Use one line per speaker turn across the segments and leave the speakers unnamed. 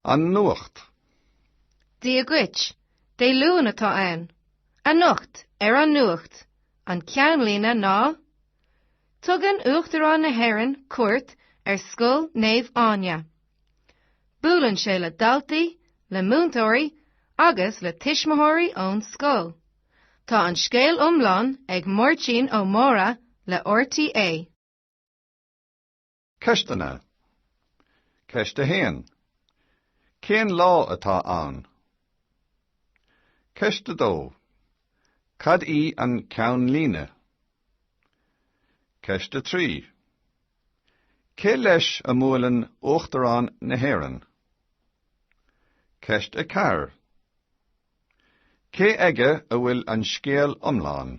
An nuacht.
Dia duit. Dé Luain atá ann. Anocht, ar an nuacht, an ceannlíne ná Tugann Uachtarán na hÉireann cuairt ar Scoil Naomh Áine. Buaileann sé le daltaí, le múinteoirí agus le tuismitheoirí ón scoil. Tá an scéal iomlán ag Máirtín Ó Mórdha le RTÉ.
Ceisteanna Ceist 1. Cén lá atá ann? Ceist 2. Cad í an ceannlíne? Ceist 3. Cé leis a mbuaileann Uachtarán na hÉireann? Ceist 4. Cé aige a bhfuil an scéal iomlán?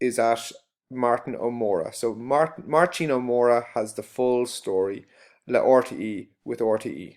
is at Martin O Mórdha so Martin O Mórdha has the full story le RTE with RTE.